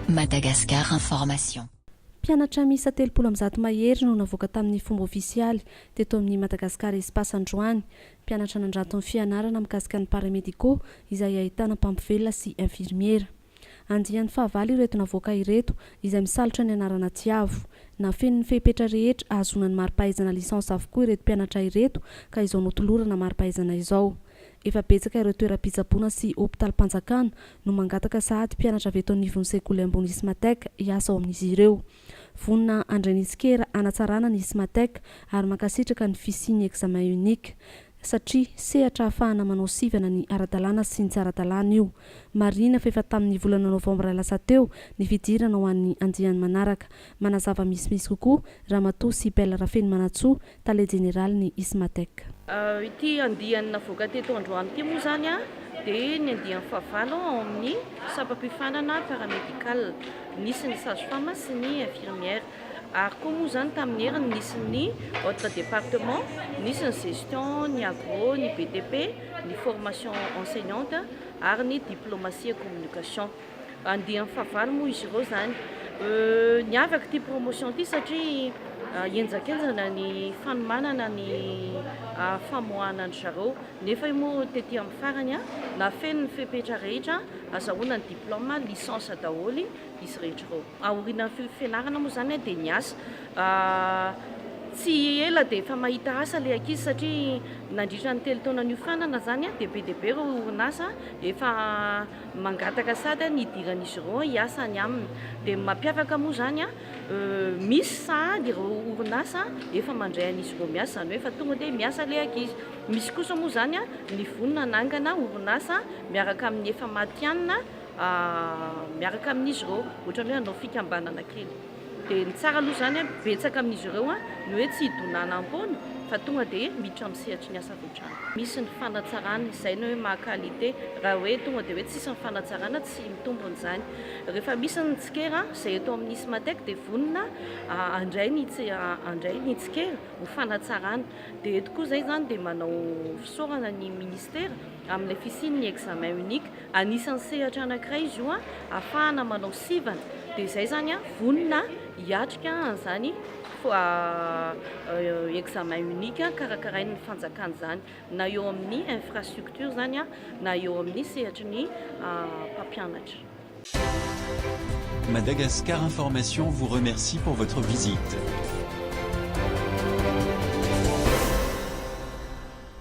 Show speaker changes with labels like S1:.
S1: Madagascar Information. Mpianatra
S2: miisa telopolo amby zato mahery no navoaka tamin'ny fomba ofisialy teto amin'ny Madagascar Espace androany. Mpianatra nandrato ny fianarana mikasika ny Paramédicaux izay ahitana mpampivelona sy infirmiera. Andiany fahavalo ireto navoaka ireto, izay misalotra ny anarana Tiavo. Nafeniny ny fehipetra rehetra ahazoana ny mari-pahaizana licence avokoa ireto mpianatra ireto ka izao notolorana mari-pahaizana izao. Efa betsaka ireo toeram-pitsaboana sy hopitalim-panjakana no mangataka sahady mpianatra avy eto anivon'ny sekoly ambony Ismatec hiasa ao amin'izy ireo. Vonona handray ny tsikera hanatsarana ny Smatec ary mankasitraka ny fisian'ny examen unique satria sehatra ahafahana manao sivana ny ara-dalàna sy ny tsy ara-dalàna io. Marihina fa efa tamin'ny volana novambra lasa teo ny fidirana ho an'ny andiany manaraka. Manazava misimisy kokoa Ramatoa Sibelle Rafenimanantsoa, Tale Jeneralin'ny Ismatec. Ity
S3: andiany navoaka teto androany ity moa izany dia ny andiany fahavalo ao amin'ny sampam-piofanana paramédical. Nisy ny sage-femme sy ny infirmière. Ary koa moa izany tamin'ny heriny nisy ny autres départements, nisy ny gestion, ny agro, ny BTP, ny formation enseignante ary ny diplomatie et communication. Andiany fahavalo moa izy ireo izany. Niavaka ity promotion ity satria henjakenjana ny fanomanana ny famoahana an-dry zareo. Nefa io moa tety amin'ny farany na feno ny fepetra rehetra azahoana ny diplôme, licence daholo izy rehetra ireo. Aorianan'ny fifenarana moa izany dia niasa. Tsy ela dia efa mahita asa ilay ankizy satria nandritra ny telo taona niofanana izany dia be dia be ireo orinasa efa. mangataka sady an hidiran'izy ireo hiasa any aminy dia ny mampiavaka moa izany an misy sahady ireo orinasa efa mandray an'izy ireo miasa izany hoe efa tonga dia miasa ilay ankizy misy kosa moa izany an ny vonona hanangana orinasa miaraka amin'ny efa matihanina miaraka amin'izy ireo ohatrany hoe hanao fikambanana kely Dia ny tsara aloha izany an, betsaka amin'izy ireo an, ny hoe tsy hidonana am-poana fa tonga dia miditra amin'ny sehatry ny asa avy hatrany. Misy ny fanatsarana, izay ny hoe maha qualité. Raha hoe tonga dia hoe tsisy ny fanatsarana, tsy mitombona izany. Rehefa misy ny tsikera, izay eto amin'ny Ismatec dia vonona handray ny handray ny tsikera ho fanatsarana. Dia eto koa izay izany dia manao fisaorana ny Ministera Amin'ilay fisian'ny examen unique, anisan'ny sehatra anankiray izy io ahafahana manao sivana, dia izay izany vonona hiatrika an'izany examen unique karakarain'ny fanjakana izany, na eo amin'ny infrastructure izany na eo amin'ny sehatry ny mpampianatra.
S4: Madagascar Information vous remercie pour votre visite.